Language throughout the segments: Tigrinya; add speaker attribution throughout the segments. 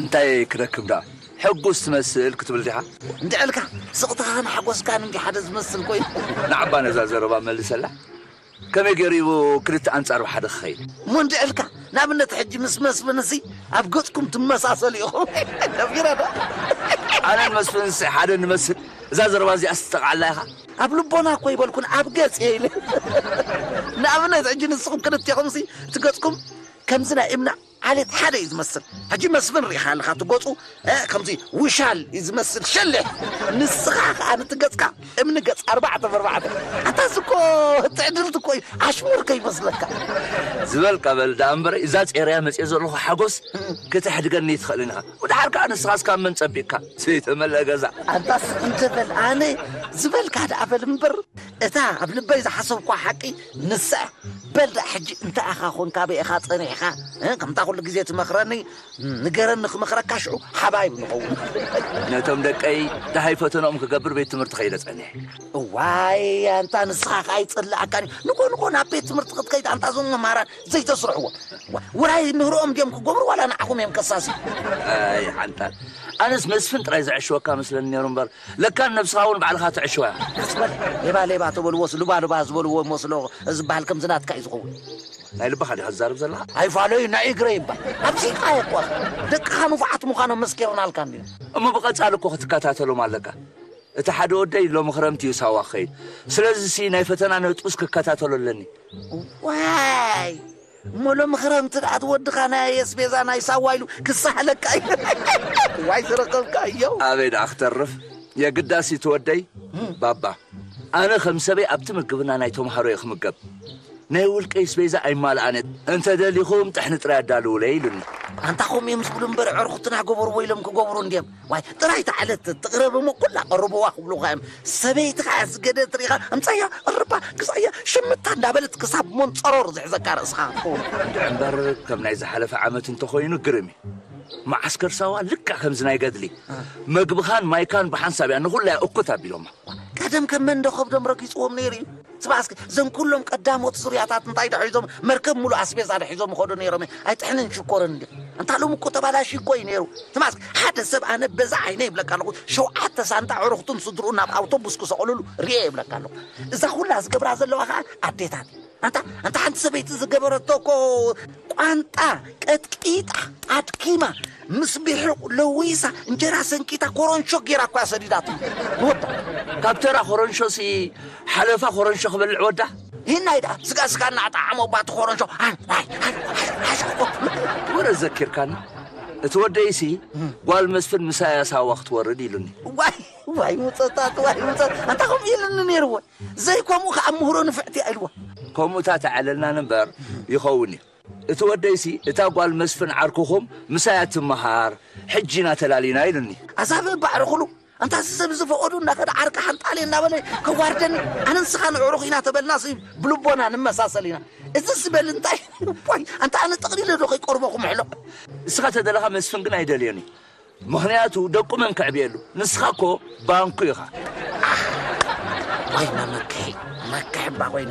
Speaker 1: እንታይ ክረክብ
Speaker 2: ደኣ ሕጉስ ትመስል ክትብል ዲኻ? እንድዒ ኢልካ
Speaker 1: ስቕታኻን ሓጎስካን እንድዩ ሓደ ዝመስል ኮይኑ። ንዓ'ባ ነዛ
Speaker 2: ዘረባ መልሰላ፣ ከመይ ገይሩ እዩ ክልተ ኣንጻር ብሓደ ክኸይድ? እሞ እንድዒ ኢልካ
Speaker 1: ንኣብነት ሕጂ ምስ መስፍን'ሲ ኣብ ገጽኩም ትመሳሰሉ ኢኹም ደፊረ ዶ? ኣነን
Speaker 2: መስፍን'ሲ ሓደ ንመስል? እዛ ዘረባ እዚኣስ ትጠቕዓላ ኢኻ? ኣብ ልቦና እኮ
Speaker 1: ኣይበልኩን ኣብ ገጽ እየ ኢለ። ንኣብነት ሕጂ ንስኹም ክልቴኹም'ሲ እቲ ገጽኩም ከምዚ ናይ እምኒ ዓሌት ሓደ እዩ ዝመስል ሕጂ መስፍን ሪኢኻ ኣለኻ እቲ ገጹ ከምዚ ውሻል እዩ ዝመስል ሸሊሕ ንስኻ ከኣ ንቲ ገጽካ እምኒ ገጽ ኣርባዕተ በርባዕተ ኣታ እዚ እኮ ትዕድልቲ እኮ እዩ ኣሽሙር ከይመስለካ። ዝበልካ
Speaker 2: በል ደኣ እምበረይ እዛ ጼረያ መጽየ ዘለኹ ሓጎስ ከተሕድገኒ ኣይትኽእልን ኢኻ ወድሓር ከኣ ንስኻስ ካብ መን ጸቢቅካ ዘይተመልኣ ገዛ። ኣንታስ እንተ በል
Speaker 1: ኣነ ዝበልካ ደኣ በል እምበር እታ ኣብ ልበይ ዝሓሰብኩዋ ሓቂ ንሳ በል ደኣ ሕጂ እንታይ ኢኻ ኮን ካበይ ኢኻ ጸኒሕኻ እ ከምታ ኩሉ ግዜ ትመኽረኒ ንገረኒ ክመኽረካ ሽዑ ሓባይብ ንኸውን። ነቶም
Speaker 2: ደቀይ ደሃይ ፈተንኦም ክገብር ቤት ትምህርቲ ከይደ ጸኒሐ። እዋይ
Speaker 1: ኣንታ ንስኻ ከኣ ይጽልኣካን እዩ ንኮን ኮን ኣብ ቤት ትምህርቲ ክትከይድ ኣንታ እዞም መምሃራን ዘይተስርሕዎም ዋ- ውራይ ምህርኦም ድዮም ክገብሩ ዋላ ንዓኹም እዮም ከሳስዩ ኣይ
Speaker 2: ሓንጣል ኣነስ መስፍን ጥራይ ዘዕሽወካ መስለኒ ነይሩ እምበር ለካ ንነብስኻ ውን ባዕልኻ ትዕሽዋ ኢኻ። ቀስ በል ሌባ ሌባ
Speaker 1: ተበልዎስ ልባ ልባ ዝበልዎ ይመስሎ ዝበሃል ከምዚ ናትካ እዩ ዝኸውን። ናይ ልብኻ
Speaker 2: ዲኻ ትዛረብ ዘለኻ? ኣይፋለዩ ናይ
Speaker 1: እግረይ እባ ኣምሲጥካዮ እኮ እኻ ደቅኻ ንፉዓት ምዃኖም መስኪርናልካ እንድዮም። እሞ ብቀጻሊ እኮ
Speaker 2: ክትከታተሎም ኣለካ እቲ ሓደ ወደይ ሎሚ ክረምቲ እዩ ሳዋ ክኸይድ ስለዚሲ ናይ ፈተና ነጥቡስ ክከታተሎ ኣለኒ። እዋይ
Speaker 1: እሞ ሎሚ ክረምቲ ደኣ እቲ ወድኻ ናይ ኣስቤዛ ናይ ሳዋ ኢሉ ክሳሕለካ እዩ ዋይ ዝረኸብካዮ። ኣበይ ደኣ ክተርፍ
Speaker 2: የግዳስ ኢቲ ወደይ ባባ ኣነ ከም ሰበይ ኣብቲ ምግብና ናይ ተምሃሮ እየ ክምገብ ናይ ውልቀይ ስቤዛ ኣይማልኣን እየ እንተ ደሊኹም ጥሕኒ ጥራይ ኣዳልውለይ ኢሉኒ። ኣንታ ከምኡ እዮም
Speaker 1: ዝብሉ እምበር ዕርኹትና ገበርዎ ኢሎም ክገብሩ እንድዮም። ዋይ ጥራይ እታ ዕለት ትቕረብ እሞ ኩላ ቅርብዋ ክብሉኻ እዮም ሰበይትኻ እያ ዝገደት ርኢኻ ኣምጻያ እርባ ግዛያ ሽምታ እንዳበለት ክሳብ ሞንጸሮር ዝሕዘካ ርእስኻ ክትከውን እንድዒ እምበር
Speaker 2: ከም ናይ ዝሓለፈ ዓመት እንተኾይኑ ግርም እዩ መዓስከር ሳዋ ልክዕ ከምዚ ናይ ገድሊ መግብኻን ማይካን ብሓንሳብ እያ ንኹላ እያ እኩት ኣቢሎማ ቀደም ከም መንደ
Speaker 1: ከብዶም ረጊጽዎም ነይሩ እዩ ስማዕ እስኪ እዞም ኩሎም ቀዳሞት ሱርያታት እንታይ ዶ ሒዞም መርከብ ሙሉእ ኣስቤዛ ዶ ሒዞም ይኸዱ ነይሮም እየ ኣይጥሕንን ሽኮርን እንዲ እንታ ሎሚ እኮ ተባላሽ እኮ እዩ ነይሩ ስማዕ እስኪ ሓደ ሰብ ኣነ በዛ ዓይነ ይብለካ ኣለኹ ሸውዓተ ሳንጣ ዕሩኽቱን ስድርኡን ናብ ኣውቶቡስ ክሰቕልሉ ርኤ ይብለካ ኣለኹ እዛ ኩላ ዝገብራ ዘለዋ ከዓ ኣዴታት እዩ ኣንታ ኣንታ ሓንቲ ሰበይቲ ዝገበረቶ እኮ ቋንጣ ቀጥቂጣ ኣድኪማ ምስ ቢሑቕ ለዊሳ እንጀራ ሰንኪታ ኮረንሾ ጌራ እኳ ሰዲዳቶ ንወዳ። ካብ ተራ
Speaker 2: ኮረንሾሲ ሓለፋ ኮረንሾ ክበልዕ ወዳ። ሂናይ ደኣ ስጋ
Speaker 1: ስጋ እናኣጣዓሞ እባ እቲ ኮረንሾ
Speaker 2: ወረ ዘኪርካኒ እቲ ወደይሲ ጓል መስፍን ምሳያ ሳዋ ክትወርድ ኢሉኒ። ዋይ ዋይ
Speaker 1: ውፀታት ዋይ ውፀት ኣንታ ከምኡ ኢሉኒ ነይርዎ ዘይከምኡ ከዓ ምሁሮ ንፍዕቲ ኢልዎ። ከምኡ እታ ተዕለልና
Speaker 2: ነበር ይኸውን እዩ። እቲ ወደይሲ እታ ጓል መስፍን ዓርኩኹም ምሳይ እያ ትመሃር ሕጂ ኢና ተላሊና ኢሉኒ። ኣዛብእ ባዕርኹሉ
Speaker 1: ኣንታ እዚ ሰብ እዚ ፈቐዱ እናኸደ ዓርኪ ሓንጣልየ እናበለ ከዋርደኒ ኣነ ንስኻን ኣዕሩኽ ኢና ተበልናሲ ብልቦና ንመሳሰል ኢና እዚ ዝበል እንታይ ዋይ ኣንታ ኣነ ጠቕሊለ ዶ ከይቀርቦ ክምሕሎ። ንስኻ ተደለኻ
Speaker 2: መስፍን ግን ኣይደልዮን እዩ። ምኽንያቱ ደቁ መን ከዕብየሉ ንስኻ እኮ ባንኩ ኢኻ። ኣሕ
Speaker 1: ወይነ መክሒ መክሒ እባ ኮይነ።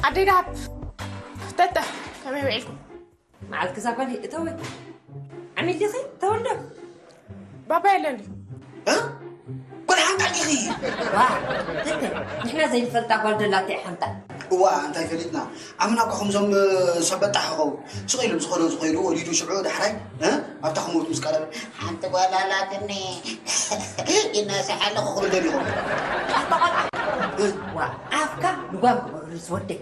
Speaker 3: ኣዴታት ተተ ከመይ ውዒልኩም መዓልቲ ክሳብ
Speaker 4: ካልእ እተወ ዓሚል ዲኺ ተወልዶ ባባ
Speaker 3: የለን
Speaker 1: ጓል ሓንታ ዲኺ ንሕና
Speaker 4: ዘይንፈልጣ ጓል ደላተ ሓንታ እዋ እንታይ ፈሊጥና
Speaker 5: ኣምና እኳ ከምዞም ሰበጣ ሓኸው ስቕ ኢሎም ዝኾነ ዝኸይዱ ወሊዱ ሽዑ ዳሕራይ ኣብታ ክሞት ምስ ቀረበ ሓንቲ ጓል
Speaker 1: ኣላትኒ ይነስሕ ኣለኹ ክብል ደሊኹም
Speaker 4: ኣፍካ ንጓል ክበርስ ወደይ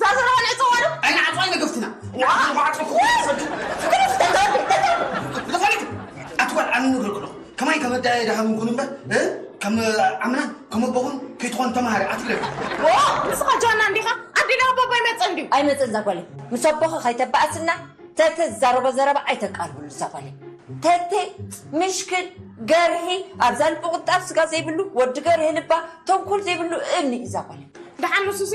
Speaker 3: ዛዘራን ዕፀዋንም ኣይንዓፅዋይ
Speaker 5: መገፍትና ዝኸነት ኣትጓል ኣነ ንብሎ ከለኹ ከማይ ከም ኣዳየ ድሃ ምንኩን እምበር ከም ኣምና ከም ኣቦኹን ከይትኾን ተምሃሪ ኣትግለ ንስኻ
Speaker 3: ጃና እንዲኻ ኣዲና ኣቦባ ይመፅእ እንዲ ኣይመፅእ ዛጓል
Speaker 4: ምስ ኣቦኸ ከይተባኣስና ተተ ዝዛረቦ ዘረባ ኣይተቃርብሉ ዛጓል ተተ ምሽክል ገርሂ ኣብዛ ልቢ ቁጣብ ስጋ ዘይብሉ ወዲ ገርሂ ልባ ተንኮል ዘይብሉ እምኒ እዩ ዛጓል ደሓን ንሱሲ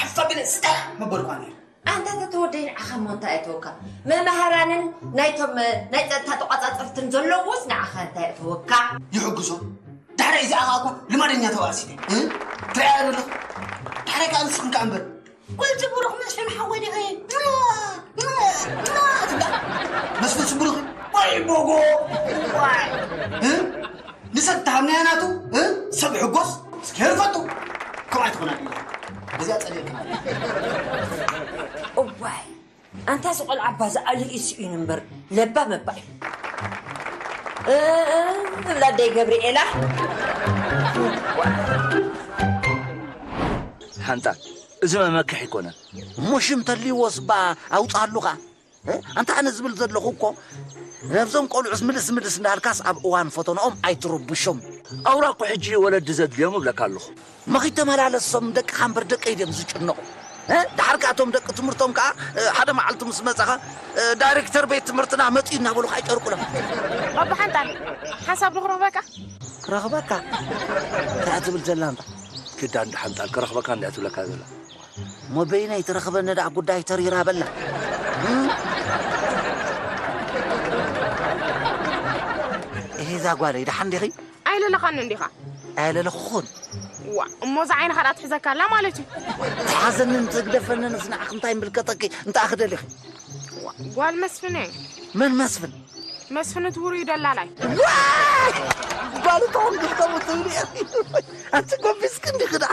Speaker 5: ሓዝፋ ግን ስታይ ምበልኳ ነይረ። ኣንታ ተተወደይ
Speaker 4: ንዓኻ እሞ እንታይ እተወካ? መማህራንን ናይቶም ናይ ፀጥታ ተቋፃፀርትን ዘለውዎስ ንዓኻ እንታይ እተወካ? ይሕግዞ ዳሕራይ
Speaker 5: እዚኣ ከዓ እኳ ልማደኛ ተባእሲ ትርኣያ ዘሎ ዳሕራይ ከዓ ንስኹም ከዓ እምበር ወልቲ ብሩኽ መስፍን ሓወይ ዲኺ ትብላ መስፍን ስብሩኽ ወይ ቦጎ ዋይ ንሰብ ተሃምናያ ናቱ ሰብ ሕጎስ ስኬር ፈቱ ከም ኣይትኾና ድዩ እዚኣ ጸሊእክና
Speaker 4: እዋይ ኣንታ ዝቆልዓ ኣባ ዝኣሉ እዩ ስኢኑ እምበር ለባ መባ እዩ እብላ ኣደይ ገብርኤላ ሓንታ
Speaker 2: እዚ መመክሒ ይኮነ እሞ ሽም
Speaker 1: ተልይዎስ ባ ኣውፅኣሉኻ ኣንታ ኣነ ዝብል ዘለኹ እኮ ነብዞም ቆልዑስ ምልስ ምልስ እንዳልካስ ኣብ እዋን ፈተንኦም ኣይትረብሾም። ኣውራ እኮ ሕጂ
Speaker 2: እዩ ወለዲ ዘድልዮም እብለካ ኣለኹ። መኺተመላለሶም
Speaker 1: ደቅኻ እምበር ደቀይ ድዮም ዝጭነቑ። ደሓር ከኣ እቶም ደቂ ትምህርቶም ከኣ ሓደ መዓልቲ ምስ መጸኻ ዳይሬክተር ቤት ትምህርትና መጺኡ እናበሉኻ ይጨርቁሎም። ኣባሓንጣል
Speaker 3: ሓሳብ ዶ ክረኽበካ? ክረኽበካ
Speaker 1: እንታይ እያ ትብል ዘላ እንታ? ግዳ እንዳ
Speaker 2: ሓንጣል ክረኽበካ እንድያ ትብለካ ዘላ። እሞ በይነይ
Speaker 1: ትረኽበኒ ደኣ ጉዳይ ተሪራ በላ እሂ እዛ ጓለይ ደሓን ዲኺ ኣይለለኻኒ እንዲኻ
Speaker 3: ኣየለለኹኹን
Speaker 1: ዋ እሞ
Speaker 3: እዛ ዓይንኻ ደኣ ትሕዘካ ኣላ ማለት እዩ ትሓዘንን
Speaker 1: ትግደፈንን እዚ ንዓኽ እንታይ ምልከተኪ እንታይ ክደሊኺ ዋ ጓል
Speaker 3: መስፍነ መን መስፍን
Speaker 1: መስፍን እቲ
Speaker 3: ውሩይ ደላላይ ጓል
Speaker 1: ተኾንኪ ከምኡ ትብሊ ኣንቲ ጎቢዝኪ እንዲኺ ደኣ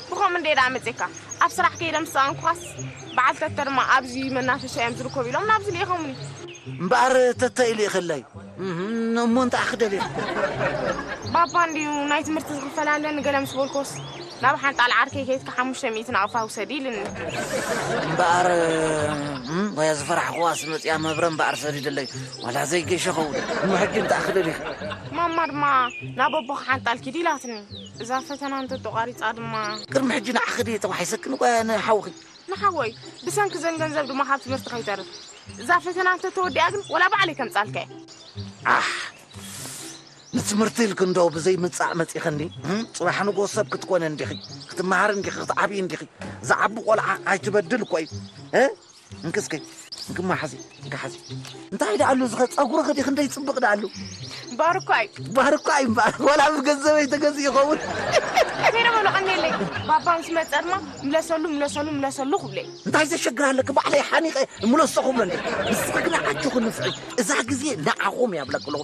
Speaker 1: ብኸምኡ እንድየ ደኣ
Speaker 3: መጺኤካ። ኣብ ስራሕ ከይደ ምስ ሰኣንኩኻስ፣ በዓል ተተ ድማ ኣብዚ መናፈሻ እዮም ዝርከቡ ኢሎም ናብዚ ልኢኾሙኒ። እምበኣር
Speaker 1: ተተ ኢሉ ይኽለዩ። እህም፣ እሞ እንታይ ኢኺ ደሊኺ?
Speaker 3: ባባ እንድዩ ናይ ትምህርቲ ዝኽፈል ኣለኒ ገለ ምስ በልኩዎስ፣ ናብ ሓንጣል ዓርከይ ከይድኪ ሓሙሽተ ሚእቲ ናቕፋ ውሰዲ ኢሉኒ። እምበኣር
Speaker 1: እም፣ ወያ ዝፈራሕኩዋስ መጺኣ መብረ እምበኣር ሰዲደለይ፣ ዋላ ዘይገሸኹ። እሞ ሕጂ እንታይ ኢኺ ደሊኺ? ማማ ድማ
Speaker 3: ናብ ኣቦኺ ሓንጣል ኪዲ ኢላትኒ። እዛ ፈተና እንተተቋሪጻ ድማ። ቅድሚ ሕጂ ንዓኺ ድየ
Speaker 1: ተዋሒሰኪ ንጓያ ንሓውኺ? ንሓወይ።
Speaker 3: ብሰንኪ እዘን ገንዘብ ድማ ካብ ትምህርቲ ከይተርፍ። እዛ ፈተና እንተተወዲኣ ግን ወላ ባዕለይ ከምጽኣልካ እየ። ዓሕ!
Speaker 1: ንትምህርቲ ኢልኪ እንዶ ብዘይ ምጻእ መጺኽኒ? ጽባሕ ንግሆ ሰብ ክትኮኒ እንዲኺ፣ ክትመሃሪ እንዲኺ፣ ክትዓብዪ እንዲኺ። ዝዓቢ ቆልዓ ኣይትበድል እኮ እዩ። እንኪ እስከ እንክማ ሓዚ እንካ ሓዚ እንታይ ደኣሉ ዝኸ ጸጉርኺ ዲ ክንደይ ጽብቕ ደኣሉ ባርኳይ ባርኳይ እምበኣር
Speaker 3: ወላ
Speaker 1: ብገንዘበይ ተገዝእ ይኸውን ከይረ
Speaker 3: በሉ ቀኒለይ ባባ ምስ መጸ ድማ ምለሰሉ ምለሰሉ ምለሰሉ ክብለይ እንታይ ዘሸግር ኣለኪ
Speaker 1: ባዕለይ ሓኒቐ ምለሶ ክብሎ ንስኺ ግና ኣጆኺ ንፍዒ እዛ ግዜ ንዓኹም እያ ብለኪ ኣለኹ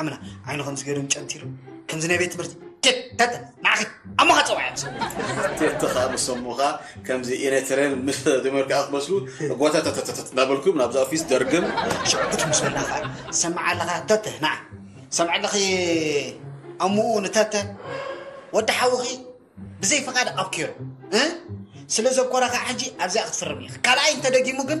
Speaker 5: ዓምና ዓይኑ ከም ዝገርም ጨንቲሩ ከምዚ ናይ ቤት ትምህርቲ ደተ ንዓኺ ኣሞኻ ፀዋያ ተኻ
Speaker 6: ምሰሙኻ ከምዚ ኤርትረን ምስ ተመርክኣ ክትመስሉ ጎተተተተተት እናበልኩም ናብዛ ኦፊስ ደርግም ሽዑ ጉድ ምስ በልና
Speaker 5: ከዓ ሰማዕ ኣለኻ ተተ ንዓ ሰምዕ ኣለኺ ኣሙኡ ንተተ ወዲ ሓውኺ ብዘይ ፍቓድ ኣብኪሩ ስለ ዘኮረኻ ሕጂ ኣብዚኣ ክትፍርም ኢኺ ካልኣይ እንተደጊሙ ግን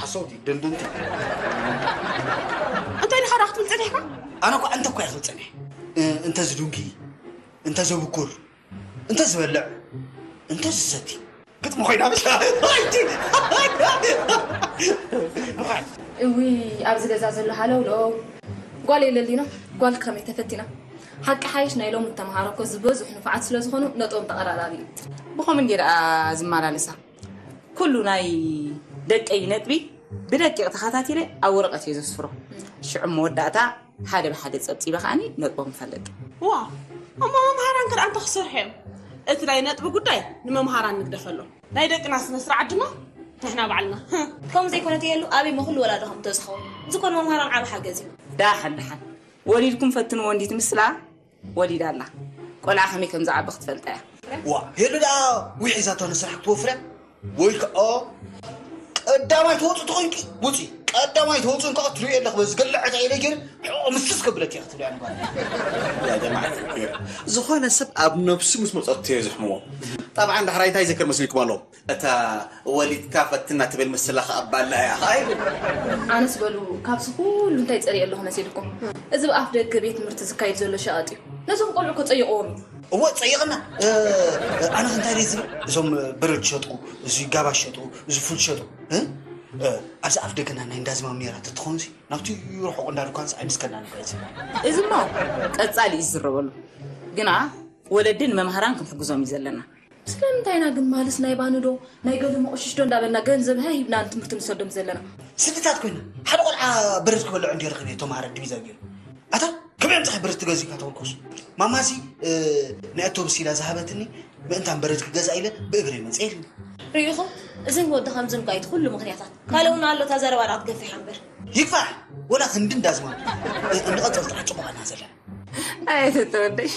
Speaker 5: ሓሰውቲ ድንድንቲ።
Speaker 7: እንታይ ኢልኻ ደኣ ክትብል ጸኒሕካ? ኣነ እኳ እንተ እኳ እየ ክብል
Speaker 5: ጸኒሐ። እንተ ዝድንኪ፣ እንተ ዘብኩር፣ እንተ ዝበልዕ፣ እንተ ዝሰቲ ግጥሚ ኮይና ብሻ ኣይቲ
Speaker 8: እዊ ኣብዚ ገዛ ዘሎ ሃለውለው ጓል የለሊና ጓል ከመይ ተፈቲና ሓቂ ሓይሽ ናይ ሎም ተምሃሮ እኮ ዝበዝሑ ንፋዓት ስለዝኾኑ ነጥቦም ተቐራራቢ እዩ ብኸምን ጌርኣ ዝመላለሳ ኩሉ ናይ ደቀይ ነጥቢ ብደቂቕ ተኸታቲለ ኣብ ወረቐት እየ ዘስፍሮ ሽዑ መወዳእታ ሓደ ብሓደ ፀብፂበ ከዓኒ ነጥቦም እፈልጥ ዋ
Speaker 7: እሞ መምሃራን ክድኣ እንተ ክሰርሑ እዮም እቲ ናይ ነጥቢ ጉዳይ ንመምሃራን ንግደፈሎ ናይ ደቅና ስነ ስርዓት ድማ ንሕና ባዕልና ከምኡ ዘይኮነ ተየሉ
Speaker 8: ኣብይ መኹሉ ወላዶ ከም ተዝኸውን ዝኾን መምሃራን ዓብ ሓገዝ እዩ ዳሓን ዳሓን ወሊድኩም ፈትንዎ እንዲት ምስላ ወሊዳ ኣላ ቆልዓ ከመይ ከም ዝዓቢ ክትፈልጣ እያ። ዋእ ሄሉ ደኣ
Speaker 5: ዊዒዛቶ ንስራሕ ክትወፍርያ ወይ ከኣ ቀዳማይ ትወጽእ ተኾይንኪ ውጺ ቀዳማይ ተወጽኡን ከኣ ትሪኦ ኣለኺ በዚ ገለ ዕጣ ኢለ ገይረ ሕቆ ምስስ ከብለት እያ ክትብልያ ንጓል ያ
Speaker 6: ጀማዓ ዝኾነ ሰብ ኣብ ነብሱ ምስ መጸቶ እየ ዝሕምሞ ጠብዓን ዳሕራይ እንታይ ይዘክር መስልኩም ኣሎ እታ ወሊድካ ፈትና ትብል ምስላ ከኣ ባላ እያ ከኣ ይብል። ኣነስ በሉ
Speaker 8: ካብዚ ኩሉ እንታይ ጸሪየ ኣለኹ መሲልኩም? እዚ ብኣፍ ደገ ቤት ትምህርቲ ዝካየድ ዘሎ ሸቐጥ እዩ። ነዞም ቆልዑ እኮ ጸይቕዎም እዩ። እወ ጸይቕና።
Speaker 5: ኣነ ከ እንታይ ድየ ዝብል? እዞም በረድ ዝሸጥኩ፣ እዚ ጋባ ዝሸጡ፣ እዚ ፉል ዝሸጡ ኣብዚ ኣፍ ደገና ናይ እንዳ ዝማም ኔራ ተትኸውን ሲ ናብቲ ርሑቕ እንዳ ድኳንስ ኣይምስከና ነበር እዚ እዚ እሞ
Speaker 8: ቀጻሊ እዩ ዝዝረበሉ። ግና ወለዲ ንመምሃራን ክንሕግዞም እዩ ዘለና። ስለምንታይ ኢና ግን ማልስ ናይ ባንዶ ናይ ገለ መቑሽሽዶ እንዳበልና ገንዘብ ሃህ ኢልና ንትምህርቲ ንሰዶም ዘለና? ስድታት ኮይና
Speaker 5: ሓደ ቆልዓ ብርት ክበልዕ እንድዩ ረኪበ ተማሃረ ድቪዛ ጌሩ ኣታ ከመይ ኣምጽኻ ብርት ትገዝእካ ተወከሱ ማማሲ ናይ ኣቶብስ ኢላ ዝሃበትኒ ምእንታን ብርት ክገዛ ኢለ ብእግረይ መጽ ኢልኒ ርኢኹም
Speaker 8: እዝን ወዲ ከምዝን ኳ ኢቲ ኩሉ ምክንያታት ካልእ እውን ኣሎ እታ ዘረባ ድኣ ክትገፊሕ ኣምበር ይግፋሕ
Speaker 5: ወላ ክንዲ እንዳዝማ እንቐጽል ጥራሕ ጽቡቓና ዘለና
Speaker 8: ኣየተተወደይ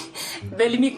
Speaker 8: በልሚኩ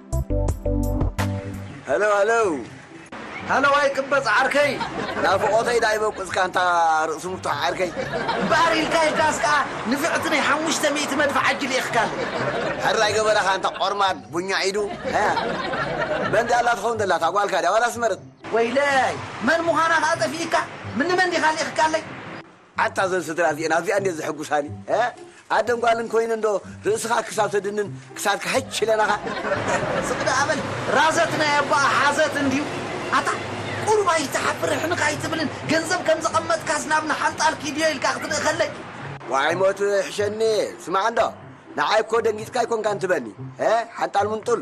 Speaker 1: Hello hello ሃለዋይ ቅበጽ ዓርከይ ናፍቖተይ ዳኣ ይበቁጽካ እንታ ርእሲ ምፍቱሕ ዓርከይ እምበኣር ኢልካ ኢልካስ ከኣ ንፍዕቲ ናይ ሓሙሽተ ሚእቲ መድፍዕ ኣጅ ልኢኽካ ኣሎ ሕራይ ገበረኻ እንታ ቆርማድ ቡኛ ኢዱ መን ዳኣ ኣላ ትኸውን ዘላ እታ ጓልካ ድያ ዋላ ስመረት ወይለይ መን ምዃና ከኣ ጠፊእካ ምንመን ዲኻ ልኢኽካለይ ኣታ እዘን ስድራ እዚኤን ኣዚኣን ድየን ዘሕጉሳኒ እህ ኣደን ጓልን ኮይነን ዶ ርእስኻ ክሳብ ተድንን ክሳድካ ሕች ኢለናኻ። ስቅ ደኣ በል ራዘት ናይ ኣቦኣ ሓዘት እንድዩ ኣታ ቁሩብ ኣይትሓፍር ሕንኽ ኣይትብልን ገንዘብ ከም ዘቀመጥካስ ናብ ንሓንጣል ኪድዮ ኢልካ ክትልእከለይ። ዋይ ሞት ይሕሸኒ ስማዕ እንዶ ንዓይ እኮ ደንጊጽካ ኣይኮንካን ትበኒ እህ ሓንጣል ምንጡል።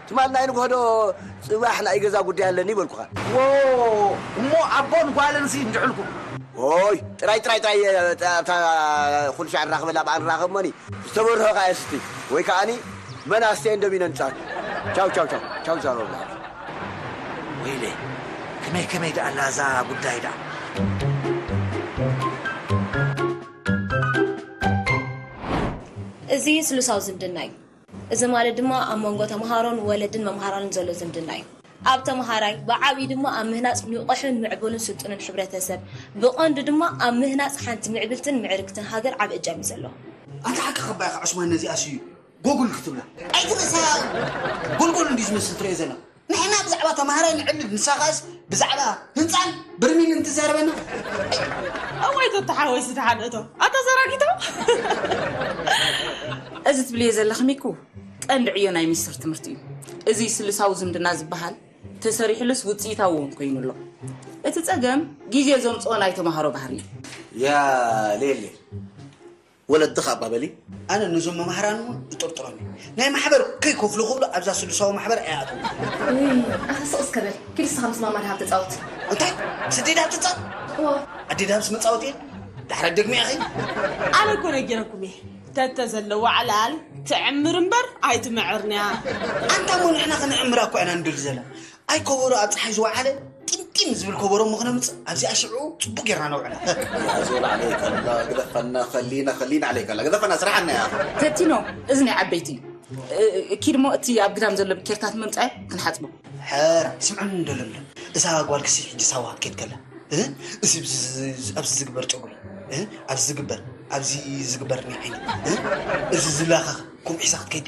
Speaker 9: ትማል ናይ ንግሆ ዶ ጽባሕ ናይ ገዛ ጉዳይ ኣለኒ በልኩኻ። ዎው
Speaker 1: እሞ ኣቦን ጓልንሲ እንድሕልኩም። ዎይ
Speaker 9: ጥራይ ጥራይ ጥራይ ኣብታ ኩልሻዕ ንራኽበላ በኣ ንራኸብ እሞኒ ዝተበርሆ ከኣ የስቲ ወይ ከኣኒ መን ኣስትየን ደሚነን ቻው ቻው ቻው ቻው ቻው ንዛረበሉ ኣብዚ።
Speaker 1: ወይለይ ከመይ ከመይ ደኣ ኣላ እዛ ጉዳይ ደኣ።
Speaker 8: እዚ ስሉሳዊ ዝምድና እዩ። እዚ ማለት ድማ ኣብ መንጎ ተመሃሮን ወለድን መምሃራንን ዘሎ ዝምድና እዩ። ኣብ ተመሃራይ፣ ብዓብዩ ድማ ኣብ ምህናጽ ንቑሕን ምዕቡልን ስልጡንን ሕብረተሰብ፣ ብቐንዱ ድማ ኣብ ምህናጽ ሓንቲ ምዕብልትን ምዕርግትን ሃገር ዓቢ እጃም እዩ ዘለዎ። ኣንታ ሓቂ
Speaker 5: ከባኢኻ ዑስማን ነዚኣስ እዩ ጎግል ክትብላ። ኣይትንእሰ ያኢ ጉልጉል እንድዩ ዝመስል ትሪኦ ዘለኻ። ንሕና ብዛዕባ ተማሃራይ ንዕልል ንሳ ከኣስ ብዛዕባ ህንጻን ብርሚልን ትዛረበና
Speaker 7: እይ። እዋይ ቶቶ ሓወይ ዝተሓድእቶ ኣታ ዘራጊቶ
Speaker 10: እዚ ትብልዮ ዘለኺ ሚኩ ቀንዲ ዕዮ ናይ ሚስጥር ትምህርቲ እዩ እዚ ስሉሳዊ ዝምድና ዝበሃል ተሰሪሕሉስ ውፅኢታዊ እውን ኮይኑ ኣሎ እቲ ፀገም ግዜ ዘምፅኦ ናይ ተምሃሮ ባህሪ እዩ ያ
Speaker 5: ሌሌ ወለድኽ ኣባ በሊ። ኣነ ነዞም መማህራን እውን እጥርጥሮም እየ ናይ ማሕበር ከይከፍሉ ክብሉ ኣብዛ ስሉሳዊ ማሕበር ኣይኣትዉን። ውይ ኣኸ
Speaker 8: ስቅ እስከ በል ኪድ እስኻ ምስ ማማ ደሃብ ተጻወት። እንታይ ምስ
Speaker 5: ኣዴ ደሃብ ትጻወት? እወ። ኣዴ ደሃብስ መጻወቲ እያ ዳሕራይ ደግመያ ኸይ። ኣነ እኮ
Speaker 7: ነጊረኩም እየ ተተዘለዋ ዕላል ትዕምር እምበር ኣይትምዕርንያ። ኣንታ እሞ
Speaker 5: ንሕና ክንዕምራ እኳ ኢና ንደሊ ዘለና ኣይ ኮቦሮ ኣብ ፀሓይ ዝወዓለ ጢምጢም ዝብል ኮቦሮ እሞ ክነምፅእ ኣብዚኣ ሽዑ ፅቡቅ ጌርና ነውዕላ ዞል ዓለይካ ኣላ ግደፈና ከሊና ከሊና ዓለይካ ኣላ ግደፈና ስራሕና እያ ተቲኖ እዚ ናይ
Speaker 10: ዓበይቲ እዩ እ- ኪድ እሞ እቲ ኣብ ግዳም ዘሎ ብኬርታት መምፃኢ ክንሓፅቦ ሕራ
Speaker 5: ስምዑኒ እንዶ ለምለም እዛ ጓል ክሲ ሕጂ ሳዋ ክትከድ ከላ እ? እዚ ብዚ- ዚ- ዚ- ኣብዚ ዝግበር ጨጉሪ እ? ኣብዚ ዝግበር ኣብዚ ዝግበር ናይ ዓይኒ እ? እዚ ዝላኸኽ ኩምዒሳ ክትከይድ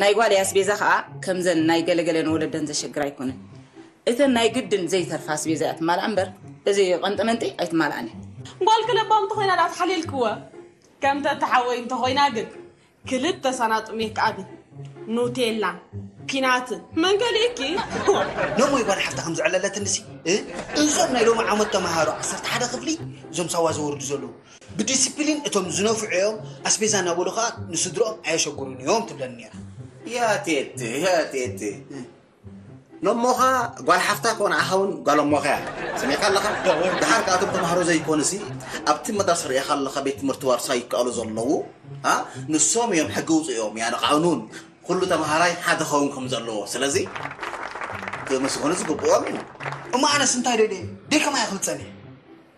Speaker 10: ናይ ጓለይ ኣስቤዛ ከዓ ከምዘን ናይ ገለገለን ወለደን ዘሸግር ኣይኮነን እተን ናይ ግድን ዘይተርፋ ኣስቤዛ እያ ትማልኣ እምበር እዚ ቀንጠመንጢ ኣይትማልኣን እያ ጓልኪ ለባም
Speaker 7: እንተኾይና ዳኣ ተሓሊልክወ ከም ተተሓወይ እንተኾይና ግን ክልተ ሳናጡ ሜክኣብን ኑቴላን ፒናትን መን ከሊእኪ ሎሞይ
Speaker 5: ጓል ሓፍታ ከም ዝዕለለትንሲ እዞም ናይ ሎሚ ዓመት ተምሃሮ ዓሰርተ ሓደ ክፍሊ እዞም ሳዋ ዘወርዱ ዘለዉ ብዲሲፕሊን እቶም ዝነፍዑ እዮም፣ ኣስቤዛ እናበሉ ከኣ ንስድርኦም ኣየሸግሩን እዮም ትብለኒ ነይራ። ያቴቴ
Speaker 6: ያቴቴ ሎሞኻ ጓል ሓፍታ ኮን ኣኻ እውን ጓል እሞኻ እያ ሰሚዕካ ኣለኻ ድሓር ከኣቶም ተማሃሮ ዘይኮኑሲ ኣብቲ መድረስ ርኢኻ ኣለኻ ቤት ትምህርቲ ዋርሳ ይከኣሉ ዘለዉ ንሶም እዮም ሕጊ ውፅኦም እያ ንቃኑን ኩሉ ተምሃራይ ሓደ ኸውን ከም ዘለዎ ስለዚ ክምስገኑ ዝግብኦም እዩ እሞ ኣነስ
Speaker 5: እንታይ ደልየ ደይ ከማይ ክብልፀኒ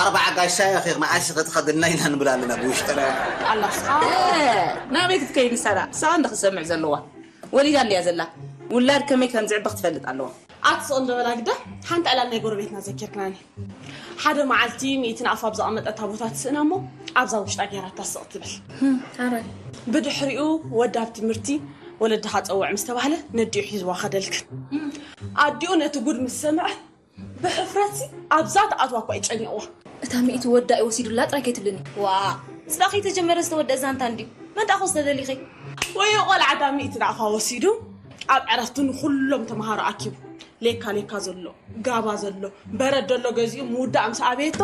Speaker 6: ኣርባዓ ጋሻ ኢኺ መዓስ ኢኺ ትኸድና ኢና ንብል ኣለና ብውሽጥና። ኣላህ
Speaker 7: ናበይ ክትከይድ ንሳዳ
Speaker 10: ሳባ እንዳ ክትሰምዕ ዘለዋ ወሊዳ እንድያ ዘላ ውላድ ከመይ ከም ዝዕቢ ክትፈልጥ ኣለዋ። ኣቲ ጽቕንዶ በላ
Speaker 7: ግዳ ሓንቲ ዕላል ናይ ጎረቤትና ዘኪርካኒ ሓደ መዓልቲ ሚእቲ ንኣፋ ኣብ ዘቐመጠታ ቦታ ትስእና እሞ ኣብዛ ውሽጣ ጌራታ ስቕ ትብል
Speaker 8: ብድሕሪኡ
Speaker 7: ወዲ ኣብ ትምህርቲ ወለድኻ ጸውዕ ምስ ተባህለ ነዲኡ ሒዝዋ ከደልክን ኣዲኡ ነቲ ጉድ ምስ ሰምዐ ብሕፍረትሲ ኣብዛ ትኣትዋ እኳ ይጨንቕዋ። እታ ሚእቲ ወዳ
Speaker 8: እዩ ወሲዱላ ጥራይ ከይትብልኒ። ዋእ! እዚ ደኣ
Speaker 7: ከይተጀመረ
Speaker 8: ዝተወደኣ ዛንታ እንድዩ። መን ደኣ ክወስዳ ደሊኺ? ወዮ ቆልዓ እታ
Speaker 7: ሚእቲ ናቕፋ ወሲዱ ኣብ ዕረፍቱ ንኹሎም ተምሃሮ ኣኪቡ ሌካ ሌካ ዘሎ፣ ጋባ ዘሎ፣ በረድ ዘሎ ገዚኡ ምውዳእ ምስ ኣበየቶ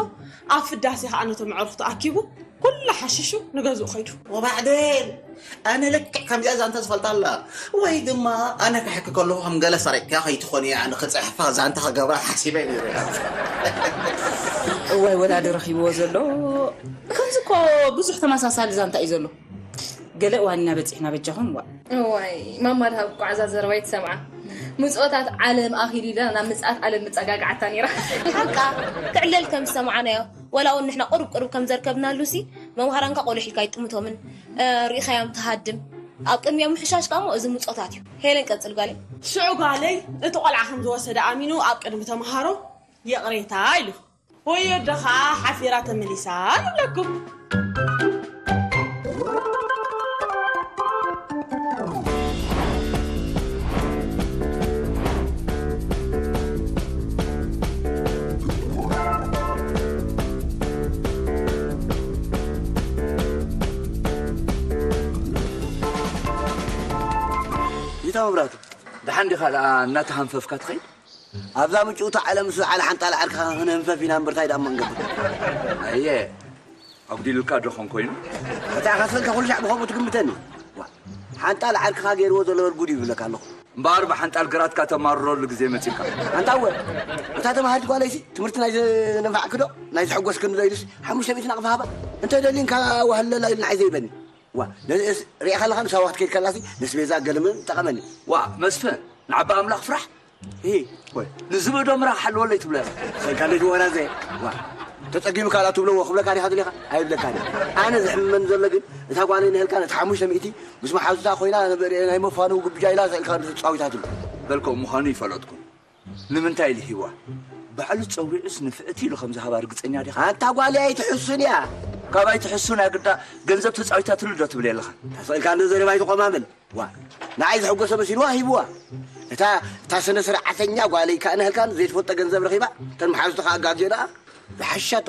Speaker 7: ኣብ ፍዳሴ ከኣ ነቶም ኣዕሩኽቱ ኣኪቡ ኩላ ሓሺሹ ንገዝኡ ከይዱ። ወባዕዴን
Speaker 6: ኣነ ልክዕ ከምዚኣ ዛንታ ዝፈልጣ ኣላ ወይ ድማ ኣነ ክሕኪ ከለኹ ከም ገለ ሰሪቕካ ከይትኾን እያ ንክጽሕፋ ዛንታ ክገብራ ሓሲበ ነይረ
Speaker 10: እዋይ ወላዲ ረኺብዎ ዘሎ ከምዚ እኮ ብዙሕ ተመሳሳሊ ዛንታ እዩ ዘሎ። ገለ እዋን ኢና በፂሕና በጃኹም ዋእ እዋይ
Speaker 8: ማማ ድሃብ እኮ ዓዛ ዘረባ ይትሰምዓ ምፅኦታት ዓለም ኣኺሉ ኢላ ናብ ምፅኣት ዓለም ምፀጋግዓታ ነይራ ሓቃ
Speaker 11: ክዕለል ከም ዝሰማዕናዮ ወላ እውን ንሕና ቁርብ ቁርብ ከም ዘርከብናሉ ሲ መምሃራንካ ቆልሕ ኢልካ ይጥምቶምን ርኢኻዮም ትሃድም ኣብ ቅድሚኦም ምሕሻሽ ከሞ እዚ ምፆታት እዩ ሄለን ቀፅል ጓለይ ሽዑ ጓለይ
Speaker 7: እቲ ቆልዓ ከም ዝወሰደ ኣሚኑ ኣብ ቅድሚ ተምሃሮ ይቕሬታ ኢሉ ወዮ ኣደ ኸኣ ሓፊራ ተመሊሳ ንብለኩም።
Speaker 2: ቢታ መብራህቱ ደሓን ዲኻ ደኣ እናተሃንፈፍካ ትኸይድ? ኣብዛ ምጭውቲ
Speaker 9: ዓለም ምስ ዝዓለ ሓንጣል ዓርክኻ ክንህንፈፍ ኢና እምበር ታይ ድኣ እሞ ንገብር። ኣየ
Speaker 2: ኣጉዲሉልካ ዶ ኾን ኮይኑ? ኣታ ኢኻ ሰልካ
Speaker 9: ኩሉ ሻዕ ብኸምኡ ትግምተኒ። ዋእ ሓንጣል ዓርክኻ ገይርዎ ዘሎ በል ጉድ ይብለካ ኣለኹ። እምበኣር ብሓንጣል
Speaker 2: ግራትካ ተማርረሉ ግዜ መጺኡካ። ኣንታ እወ
Speaker 9: እታ ተማሃሪት ጓለይሲ ትምህርቲ ናይ ዘንፋዕኪ ዶ ናይ ዘሐጎስክኒ ዶ ኢሉስ ሓሙሽተ ሚእቲ ናቕፋ ሃባ እንተ ደሊንካ ዋህለላ ኢሉ ንዓይ ዘይበኒ። ዋእ ነዚኤስ ሪኤኻ ኣለኻዶ ሳዋ ክትከይድ ከላሲ ነስቤዛ ገልምን ጠቀመኒ። ዋእ መስፍን
Speaker 2: ንዓቢ ኣምላኽ ፍራሕ እሂ
Speaker 9: ወይ ንዝብኢ ዶ ምራኽ
Speaker 2: ሓልወለይ ትብሎ ኢኻ። ሰይ ካሊድ ወራዘ
Speaker 9: ዋእ ተጸጊኑ ካልኣ ትብለዎ ክብለካ ዲኻ ደሊኻ ኣይብለካን እየ ኣነ ዝሕምመኒ ዘሎ ግን እታ ጓለይ ንህልካ ነቲ ሓሙሽተ ሚእቲ ምስ መሓዙታ ኮይና ናይ መፋነዊ ግብጃ ኢላ ስእልካ ተጻዊታትሉ። በልክዎ ምዃኑ
Speaker 2: ይፈለጥኩ ንምንታይ ኢሉ ሂብዋ? ባዕሉ ጸዊዑስ ንፍዕቲ ኢሉ ከም ዝሃባ ርግጸኛ ዲኻ? ኣንታ ጓለይ ኣይትሕሱን
Speaker 9: እያ ካብ ኣይትሕሱን
Speaker 2: ኣግዳ ገንዘብ ተጻዊታትሉ ዶ ትብለይ ኣለኻ? እንተስእልካ እንዶ ዘረባ
Speaker 9: ኣይትቖማምል ዋእ ንዓይ ዘሕጎሰ መሲልዋ ሂብዋ እታ እታ ስነ ስርዓተኛ ጓለይ ካኣ ንህልካን ዘይትፈልጦ ገንዘብ ረኺባ እተን መሓዙታ ካኣ ኣጋግየናኣ ዝሓሻቶ።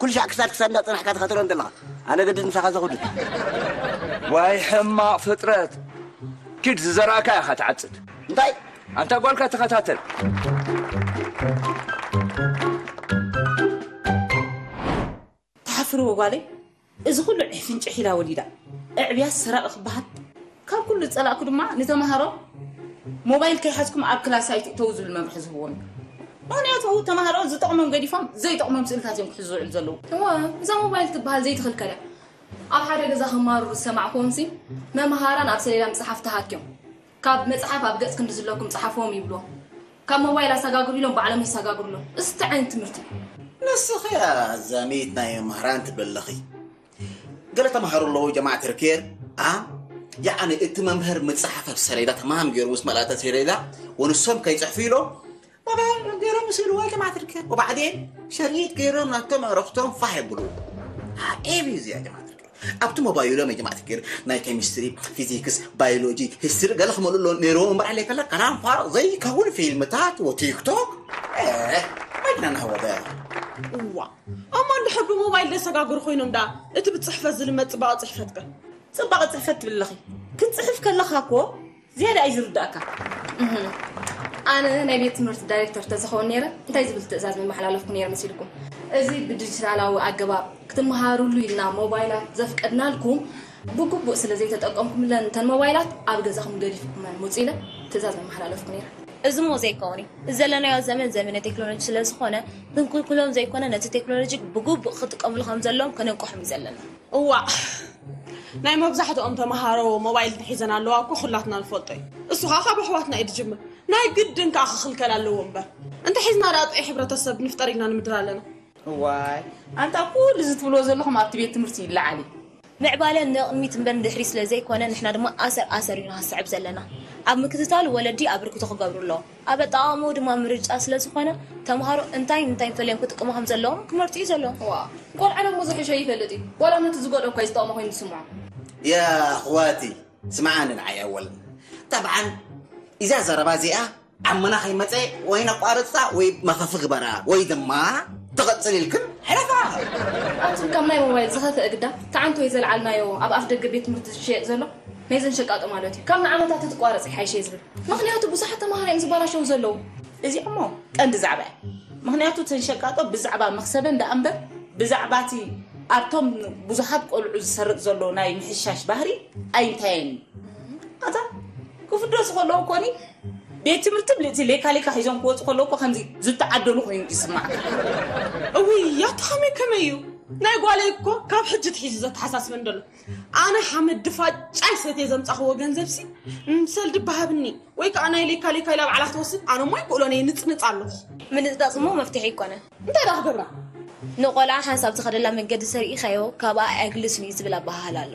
Speaker 9: ኩሉ ሻዕ ክሳድ ክሳድ እንዳጸናሕካ ትኸተሎም ዘለኻ ኣነ ገድድ ምሳኻ ዘኹድድ።
Speaker 2: ዋይ ሕማቅ ፍጥረት ኪድ ዝዘራእካዮ ኢኻ ትዓጽድ። እንታይ?
Speaker 9: ኣንታ ጓልካ
Speaker 2: ተኸታተል።
Speaker 10: ትሓፍሪ ወጓለይ እዚ ኩሉ ዒፍን ጪሒላ ወሊዳ ኣዕብያስ ሰራቂ ክበሃል። ካብ ኩሉ ዝጸላእኩ ድማ ንተማሃሮ ሞባይል ከይሓዝኩም ኣብ ክላስ ኣይትእተዉ ዝብል መምርሒ ዝህብዎም እዩ። ምክንያቱ ተማሃሮ ዝጠቕሞም ገዲፎም ዘይጠቕሞም ስእልታት እዮም ክሕዙ ዝውዕሉ ዘለዉ። እወ እዛ ሞባይል
Speaker 8: ትበሃል ዘይትኽልከል እያ። ኣብ ሓደ ገዛ ክማርሩ ዝሰማዕኩዎምሲ መምሃራን ኣብ ሰሌዳ ምጽሓፍ ተሃክዮም ካብ መጽሓፍ ኣብ ገጽ ክንዲ ዝለኩም ጽሓፍዎም ይብልዎም። ካብ ሞባይል ኣሳጋግሩ ኢሎም ባዕሎም የሳጋግሩ ኣለው። እዚ እንታይ ዓይነት ትምህርቲ እዩ? ንስኺ
Speaker 6: ኣዛሚት ናይ መምህራን ትብልኺ ገለ ተምሃሮ ኣለዉ ጀማዓ ተርኬር ያዓኒ እቲ መምህር ምፅሓፈፍ ሰሌዳ ተማም ገይሩ ምስ መላእተ ሰሌዳ ወንሶም ከይፅሕፉ ኢሎም ገይሮም ምስ ኢልዎ ጀማዓ ተርኬር ወባዕዴን ሸሪጥ ገይሮም ናቶም ኣረፍቶም ፋሕ ይብሉ ዓብ እዩ እዚኣ ጀማዓ ተርኬር ኣብቲ ሞባይሎም ጀማዓ ተርኬር ናይ ኬሚስትሪ ፊዚክስ ባዮሎጂ ሂስትሪ ገለ ክመሉ ኣሎ ነይርዎ እምበር ዓለ ከላ ከላም ፋርቕ ዘይከውን ፊልምታት ወቲክቶክ መድና ናወደ እዋ
Speaker 7: እሞ እንድሕር ብሞባይል ዘሰጋግሩ ኮይኖም ደኣ እቲ ብጽሕፈት ዝልመድ ጽባቐ ጽሕፈት ከ? ጽባቐ ጽሕፈት
Speaker 10: ትብል ኣለኺ ክትጽሕፍ ከለኻ እኮ ዝያዳ እዩ ዝርዳእካ።
Speaker 8: ኣነ ናይ ቤት ትምህርቲ ዳይሬክተር ተዝኸውን ነይረ እንታይ ዝብል ትእዛዝ መመሓላለፍኩ ነይረ መሲልኩም? እዚ ብዲጂታላዊ ኣገባብ ክትመሃርሉ ኢልና ሞባይላት ዘፍቀድናልኩም ብግቡእ ስለ ዘይተጠቀምኩምለን እተን ሞባይላት ኣብ ገዛኹም ገዲፍኩመን ምጹ ኢለ ትእዛዝ መመሓላለፍኩ ነይረ። እዚ እሞ ዘይከውን
Speaker 11: እዩ። እዚ ዘለናዮ ዘመን ዘመነ ቴክኖሎጂ ስለ ዝኾነ፣ ክንክልክሎም ዘይኮነ ነቲ ቴክኖሎጂ ብግቡእ ክጥቀምሉ ከም ዘለዎም ከነንቅሖም እዩ ዘለና። እዋእ
Speaker 7: ናይ መብዛሕትኦም ተመሃሮ ሞባይል እንተሒዘን ኣለዋ እኮ ኩላትና ንፈልጦ እዩ። እሱ ኸኣ ካብ ኣሕዋትና እዩ ዝጅምር። ናይ ግድን ከኣ ክኽልከል ኣለዎ እምበር። እንተሒዝና ደኣ ጥዑይ ሕብረተሰብ ንፍጠር ኢልና ንምድር ኣለና። እዋይ
Speaker 10: ኣንታ ኩሉ እዚ ትብልዎ ዘለኹም ኣብቲ ቤት ትምህርቲ ይለዓል እዩ። ምዕባለ
Speaker 11: ንቕድሚት እምበር ንድሕሪት ስለ ዘይኮነ ንሕና ድማ ኣሰር ኣሰር እዩ ንኸስዕብ ዘለና። ኣብ ምክትታሉ ወለዲ ኣበርክቶ ክገብሩ ኣለዎም። ኣብ ኣጠቓቕምኡ ድማ ምርጫ ስለ ዝኾነ ተምሃሮ እንታይን እንታይን ፈሊዮም ክጥቀሙ ከም ዘለዎም ክመርጹ እዩ ዘለዎም። ዋእ ቆልዓ ደሞ
Speaker 8: ዝሕሾ ይፈልጥ እዩ ዋላ ነቲ ዝጎድኦ እኳ እዩ ዝጠቕሞ ኮይኑ ዝስምዖ።
Speaker 6: ያኣኽዋቲ ስምዓኒ ንዓይ ኣወል። ጠብዓን ኢዛ ዘረባ እዚኣ
Speaker 5: ዓመና ከይመጸ ወይ ነቋርጻ ወይ መኸፊ ግበራ ወይ ድማ ትቕጽል ኢልክን ሕለፋ። ኣቱም ካብ
Speaker 8: ናይ ሞባይል ዝኸፈ እግዳ ተዓንቶ እዩ ዘልዓልናዮ ኣብ ኣፍ ደገ ቤት ትምህርቲ ዝሸየጥ ዘሎ ናይዘን ሸቃጦ ማለት እዩ ካብ ንዓመታት ትቋረጽ ይሓይሸ ዝብል ምክንያቱ ብዙሓት ተማሃሮ እዮም ዝበላሸው ዘለዉ እዚ እሞ
Speaker 10: ቀንዲ ዛዕባ እዩ ምክንያቱ እተን ሸቃጦ ብዛዕባ መክሰበን ደኣ እምበር ብዛዕባ እቲ ኣብቶም ብዙሓት ቆልዑ ዝሰርጥ ዘሎ ናይ ምሕሻሽ ባህሪ ኣይንታየን እዩ ኣታ ክፍደሱ ከለዉ ኮኒ ቤት ትምህርቲ ብልእቲ ሌካ ሌካ ሒዞም ክወፁ ከለዉ እኮ ከምዚ ዝተዓደሉ ኮይኑ ዝስማዕካ
Speaker 7: እውይ ያቲ ከመይ ከመይ እዩ ናይ ጓለይ እኮ ካብ ሕጂ ትሒዙ ዘተሓሳስበን ደሎ ኣነ ሓመድ ድፋጫይ ሰትየ ዘምፃኽዎ ገንዘብሲ ምሰልዲ ባሃብኒ ወይ ከዓ ናይ ሌካ ሌካ ኢላ ባዕላ ክትወስድ ኣነ ሞ ኣይክእሎን እየ ንፅንፅ ኣለኹ ምንፅጣፅ እሞ
Speaker 11: መፍትሒ ይኮነ እንታይ ዳ ክገብራ
Speaker 7: ንቆልዓ
Speaker 11: ሓንሳብ ዝኸደላ መንገዲ ሰሪኢኻዮ ካብኣ ኣያግልስን እዩ ዝብል ኣበሃህላ ኣሎ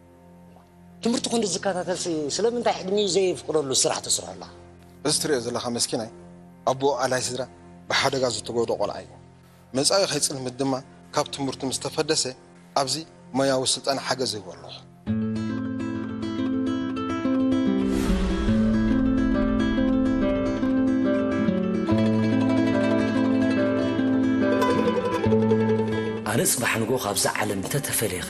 Speaker 1: ትምህርቲ ክንዲ ዝከታተልሲ ስለምንታይ ዕድሚኡ ዘየፍቅደሉ ስራሕ ተስርሖላ። እዚ ትርእዮ ዘለኻ
Speaker 12: መስኪናይ ኣቡኡ ኣላይ ስድራ ብሓደጋ ዝተጎድኦ ቆልዓ እዩ። መጻኢኡ ከይጽልምት ድማ ካብ ትምህርቱ ምስ ተፈደሰ ኣብዚ ሞያዊ ስልጠና ሓገዝ እህቦ ኣለኹ።
Speaker 1: ኣነ ጽባሕ ንግሆ ካብዛ ዓለም እንተ ተፈልየኸ?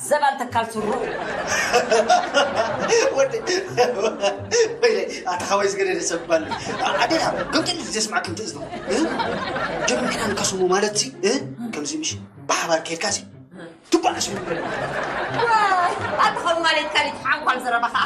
Speaker 4: ዘባን
Speaker 5: ተካል ስሩ። ወዲ ወይለይ ኣታ ሓወይ ዝገደደ ሰብ ባል ኣዴና ገምጥል ዘስማዕ ከምቲ እዝኑ ጀም ኪና ንከስሙ ማለት ሲ ከምዚ ምሽ ብሓባር ከይድካ ሲ ትጓዓሱ ኣታ ካብ ማለትካ ሊትሓንኳል
Speaker 4: ዘረባ ከዓ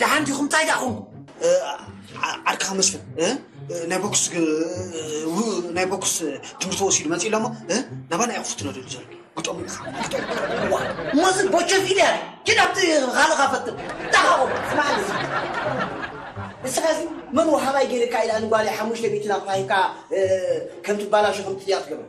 Speaker 1: ደሓን ዲኹም ታይ ዳኹም
Speaker 5: ዓርክኻ መስፍን ናይ ቦክስ ናይ ቦክስ ትምህርቲ ወሲዱ መፂኡ ኣሎ እሞ ናባና እዩ ክፍትኖ ደሉ ዘሎ ግጠሙ ኢኻ
Speaker 1: ሞዚ ቦቸፍ ኢለ ኪድ ኣብቲ ካልኻ ፈትን ዳኻኹም ስማዕኒ
Speaker 9: ንስኻ እዚ መን ወሃባይ ገይርካ ኢላ ንጓለይ ሓሙሽተ ሚእቲ ናቕፋ ሂብካ ከም ትባላሾ ከም ትጥያ ትገብር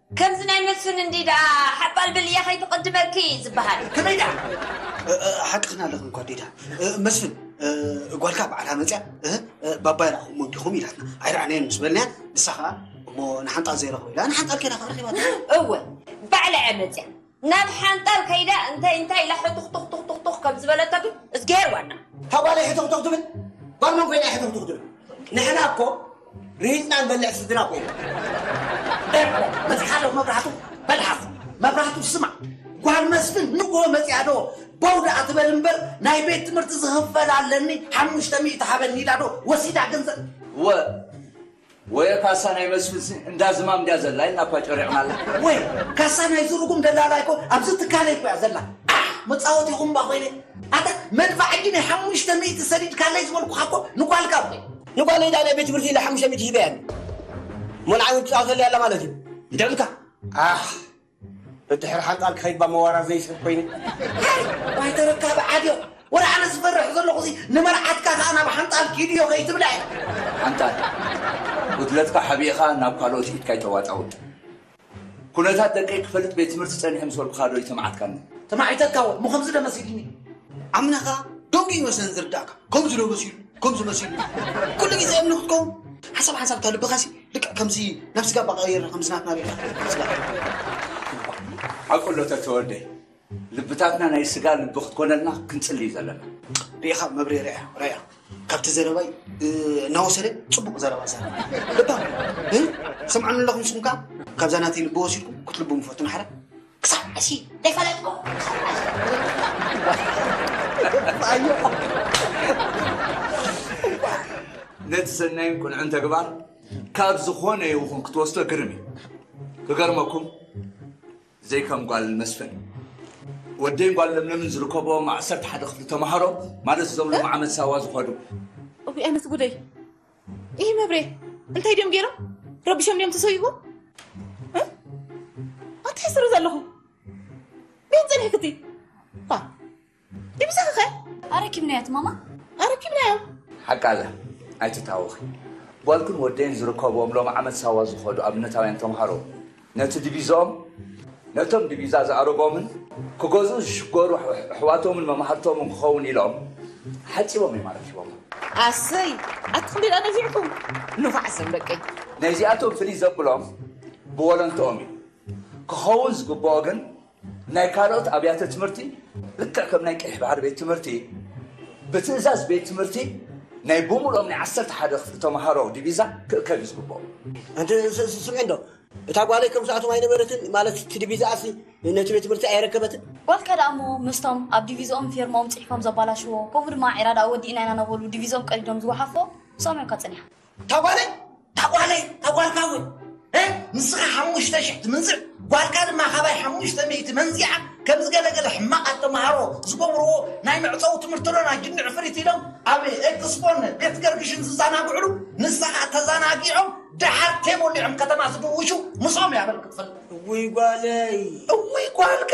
Speaker 4: ከምዚ ናይ መስፍን እንድዩ ደኣ ሓባል ብል እያ ከይትቕድመኪ ዝበሃል። ከመይ ደኣ
Speaker 5: ሓቅኽን ኣለኽን ጓዲታ መስፍን ጓልካ በዓላ መፅያ እህ ባባ ይረኣኹሞ እንዲኹም ኢላትና ኣይረኣናዮን ምስ በልናያ ንሳ ኸኣ እሞ ንሓንጣል ዘይረኽቦ ኢላ ንሓንጣል ከይዳ ክንረኺባ እወ
Speaker 4: ባዕላ እያ መፅያ ናብ ሓንጣል ከይዳ እንታይ እንታይ ኢላ ሕቱኽቱኽቱኽቱኽ ከም ዝበለቶ ግን እዝግሄር ዋና። እታ ጓለይ ሕቱኽቱኽ
Speaker 9: ትብል ጓል መን ኮይና እያ ሕቱኽቱኽ ትብል? ንሕና እኮ ርሂጽና ንበልዕ ስድራ እኮ ኢና። ኤረ
Speaker 1: በዚ ሓለፍ መብራህቱ መልሓስ መብራህቱ ስማዕ ጓል መስፍን ንግሆ መጺኣ ዶ ቦው ደኣ ትበል እምበር ናይ ቤት ትምህርቲ ዝኽፈል ኣለኒ ሓሙሽተ ሚእቲ ሃበኒ ኢላ ዶ ወሲዳ ገንዘብ እወ
Speaker 2: ወየ ካሳ ናይ መስፍንሲ እንዳ ዝማም ድያ ዘላ ኢልና እኳ ጨሪቕናላ። ወየ ካሳ
Speaker 1: ናይ ዝርጉም ደላላ እኮ ኣብዚ ትካለይ እኮ እያ ዘላ። ዓሕ መጻወቲኹም እባ ኮይነ። ኣታ መድፋዕ ሕጂ ናይ ሓሙሽተ ሚእቲ ሰዲድካለይ ዝበልኩኻ እኮ ንጓልካ እኮ እዩ። ንጓለይ ድኣ ናይ ቤት
Speaker 9: ትምህርቲ ኢለ ሓሙሽተ ሚእቲ ሂበያ እንድየ። እሞ ንዓይ እውን ትጻወተለይ ኣላ ማለት እዩ። ንደምካ!
Speaker 1: ዓሕ
Speaker 9: ደድሕሪ ሓንጣል ክኸይድባ መዋራ ዘይስሕብ ኮይኑ። ታይ ዋይ
Speaker 1: ተረካቢ ዓድዮ ወረ ኣነ ዝፈርሕ ዘለኹ እዚ ንመርዓትካ ከኣ ናብ ሓንጣል ኪድዮ ከይትብለ። ሓንጣል
Speaker 2: ጉድለትካ ሓቢእኻ ናብ ካልኦት ኢድካ ኣይተዋጣውጥ። ኩነታት ደቀይ ክፈልጥ ቤት ትምህርቲ ጸኒሐ ምስ በልኩኻ ዶ ኣይተማዓትካንን። ተማዒተካ እወ እሞ
Speaker 1: ከምዚ ዶ መሲልኒ። ኣምና ከኣ
Speaker 5: ደንጉዩ መሰለን ዝርዳእካ ከምዚ ዶ መሲሉ ከምዚ መሲሉ ኩሉ ግዜ እምኒ ክትከውን ሓሳብ ሓንሳብ እታ ልብኻሲ። ልክዕ ከምዚ ናብ ስጋ እባ ቀይርና ከምዚ ናትና ሪኢኻ ስጋ
Speaker 2: ሓቁ ኣሎ ተተወልደ ልብታትና ናይ ስጋ ልቢ ክትኮነልና ክንጽልይ ዘለና ሪኢኻ መብሬ
Speaker 5: ርያ ርያ ካብቲ ዘረባይ እ፣ እናወሰደ ፅቡቅ ዘረባ ዘረባ ልባ እ፣ ሰምዓኒ ኣለኹም ንስኹም ከዓ ካብዛ ናተይ ልቢ ወሲድኩም ክትልቡ ምፈቱን ሓረ
Speaker 1: ክሳብ
Speaker 2: ሕጂ ዘይፈለጥኩ ነቲ ሰናይን ቅኑዕን ተግባር ካብ ዝኾነ ይኹን ክትወስዶ ግርም እዩ ክገርመኩም ዘይከም ጓል መስፍን ወደይን ጓል ለምለምን ዝርከቦም ዓሰርተ ሓደ ክፍሊ ተምሃሮ ማለት እዞም ሎሚ ዓመት ሳዋ ዝኸዱ እውይ ኣነስ
Speaker 8: ጉደይ ይህ መብሬ እንታይ ድዮም ገይሮም ረቢሾም ድዮም ተሰይዎ ኣንታይ ሕስሩ ዘለኹ ቤት ፅንሕ ክቲ ድብሰኺ ኸ ኣረኪብናያት
Speaker 11: ማማ ኣረኪብናዮ
Speaker 8: ሓቃ ኣላ
Speaker 2: ኣይትታወኺ ጓልኩን ወደይን ዝርከብዎም ሎም ዓመት ሳዋ ዝኸዱ ኣብነታውያን ተምሃሮ ነቲ ዲቪዝኦም ነቶም ዲቪዛ ዝኣረጎምን ክገዝኡ ዝሽገሩ ኣሕዋቶምን መማህርቶምን ክኸውን ኢሎም ሓጺቦም እዮም ኣረኪቦሞ። ኣሰይ
Speaker 8: ኣትክልቲ ድኣ ነፊዕኩም ንፋዕ ስም ደቀይ። ነዚኣቶም ፍልይ
Speaker 2: ዘብሎም ብወለንትኦም እዩ ክኸውን ዝግብኦ ግን ናይ ካልኦት ኣብያተ ትምህርቲ ልክዕ ከም ናይ ቀይሕ ባሕሪ ቤት ትምህርቲ ብትእዛዝ ቤት ትምህርቲ ናይ ብምሎም ናይ ዓሰርተ ሓደ ክፍሊ ተምሃሮ ዲቪዛ ክእከብ እዩ ዝግብኦ
Speaker 9: ስምዒ እንዶ እታ ጓለይ ከም ሰኣቶም ኣይነበረትን ማለት እቲ ዲቪዛኣሲ ነቲ ቤት ትምህርቲ ኣይረከበትን ጓልካ ደኣ እሞ
Speaker 11: ምስቶም ኣብ ዲቪዝኦም ፊርሞም ፅሒፎም ዘባላሽዎ ከምኡ ድማ ዒራ ደኣ ወዲእና ኢና ነበሉ ዲቪዝኦም ቀዲዶም ዝወሓፎ ሰሚዑካ ፀኒሓ እታ ጓለይ
Speaker 1: እታ ጓለይ እታ ጓልካ እውን ንስኻ ሓሙሽተ ሽሕ ትምንዝዕ ጓልካ ድማ ካባይ ሓሙሽተ ሚእቲ መንዚዓ ከምዚ ገለገለ ሕማቓት ተምሃሮ ዝገብርዎ ናይ መዕፀዊ ትምህርቲ ዶን ኣጅኒ ዕፍሪት ኢሎም ኣብ ኤክስፖን ቤት ገርግሽን ዝዘናግዕሉ ንስኻ ተዘናጊዖም ደሓር ቴ ሞሊዖም ከተማ ዝድውሹ ምስኦም እያ በል ክትፈልጥ እውይ ጓለይ እውይ ጓልካ